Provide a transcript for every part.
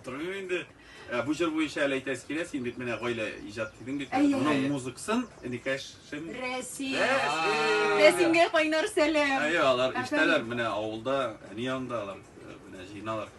Торыйм инде. Ә, Бу җыр буенча әле әйтәсе килә, син бит менә гаилә иҗат дидең бит. Әйе. Моның музыкасын Никәшем. Рәсим. Рәсим. Рәсимгә кайнар сәлам. Әйе, алар Әфәнде. иштәләр менә авылда, әни янында алар э, менә җыеналар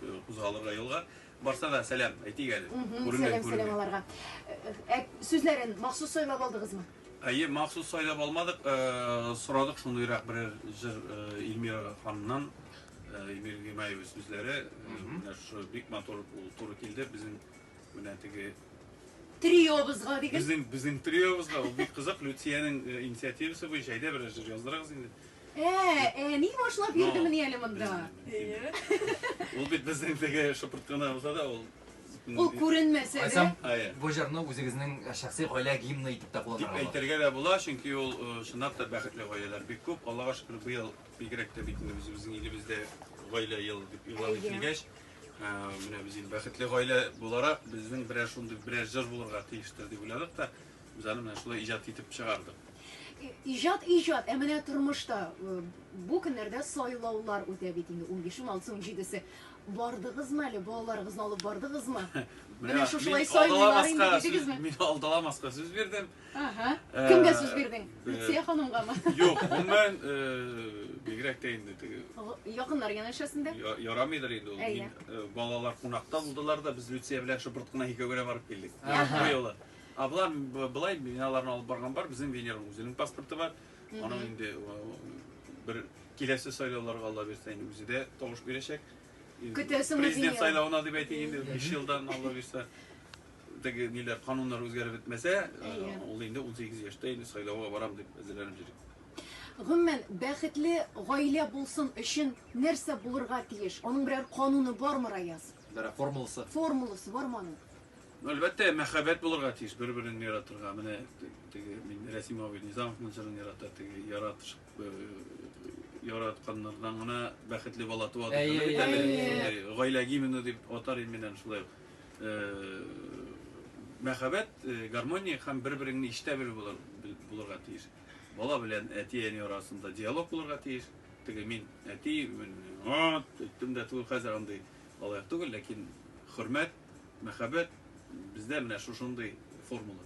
э, кузгалырга юлга. Барса да сәлам әйтик әле. Мгм, Күренгән, Сәлам, сәлам күренгән. аларга. Ә, Сүзләрен махсус сайлап алдыгызмы? Әйе, махсус сайлап алмадык, э, сорадык шундыйрак берәр җыр э, Эльмира ханымнан. Эмиль Гыймаевич сүзләре менә шушы бик матур ул туры килде безнең менә теге Триобызга дигез. Безнең безнең триобызга ул бик кызык Люциянең э, инициативасы буенча әйдә берәр җыр яздырыгыз инде. Ә, әни башлап йөрде мени әле монда. Әйе. Ул бит безнең теге шыпырткана булса да ул Ул күренмәсә дә. Кайсам Әйе. бу җырны үзегезнең э, шәхси гаилә гимны итеп тә Дип кулланырга була. әйтергә дә була, чөнки ул э, чынлап та бәхетле гаиләләр бик күп. Аллага шөкер, быел Бигрәк тә бит инде үзебезнең илебездә гаилә ел дип игълан ителгәч, ә, менә без инде бәхетле гаилә буларак, безнең берәр шундый берәр җыр булырга тиештер дип уйладык та, без аны менә шулай иҗат итеп чыгардык. И- Иҗат иҗат, ә менә тормышта э, бу көннәрдә сайлаулар үтә бит инде 15 алсу 17се. Бардыгызмы әле балаларыгызны алып бардыгызмы? Менә шушылай мин сайлыйлар инде алдаламаска сүз- дидегезме? Мин алдаламаска сүз бирдем. Ага. Э, Кемгә сүз бирдең? Э, Лүция ханымгамы? Юк, гомумән, бигрәк тә инде теге. Якыннар янәшәсен дә? Ярамыйдыр инде ул. Мин э, балалар кунакта булдылар да, без Лүция белән шыбырт кына икәүгә барып килдек. Бу юлы. А болар былай мин аларны алып барган бар, безнең Венерның үзенең паспорты бар. Аның инде бер киләсе сайлауларга Алла бирсә инде үзе дә тавыш бирәчәк. Көтәсең Президент сайлауына дип әйтик инде 5 елдан Алла бирсә. Теге ниләр, кануннар үзгәреп бетмәсә, Әйе. ул инде 18 яшьтә инде сайлауга барам дип әзерләнеп йөри. Гомумән, бәхетле гаилә булсын өчен нәрсә булырга тиеш? Аның берәр кануны бармы, Раяз? Берәр формуласы? Формуласы бармы аның? Ну, әлбәттә, мәхәббәт булырга тиеш, бер-берен яратырга. Менә те- теге мин Рәсим абый Низамовның җырын ярата, теге яратыш э, яратканнардан гына бәхетле бала туа дип Әйе, әйтә бит әле. әйе. Шундый гаилә гимны дип атар идем мин аны шулай ук. Мәхәббәт, гармония һәм бер-береңне ишетә белү булырга тиеш. Бала белән әти-әни арасында диалог булырга тиеш. Теге мин әти, мин ат, әйттем дә түгел, хәзер андый алай түгел, ләкин хөрмәт, мәхәббәт бездә менә шушындый формула.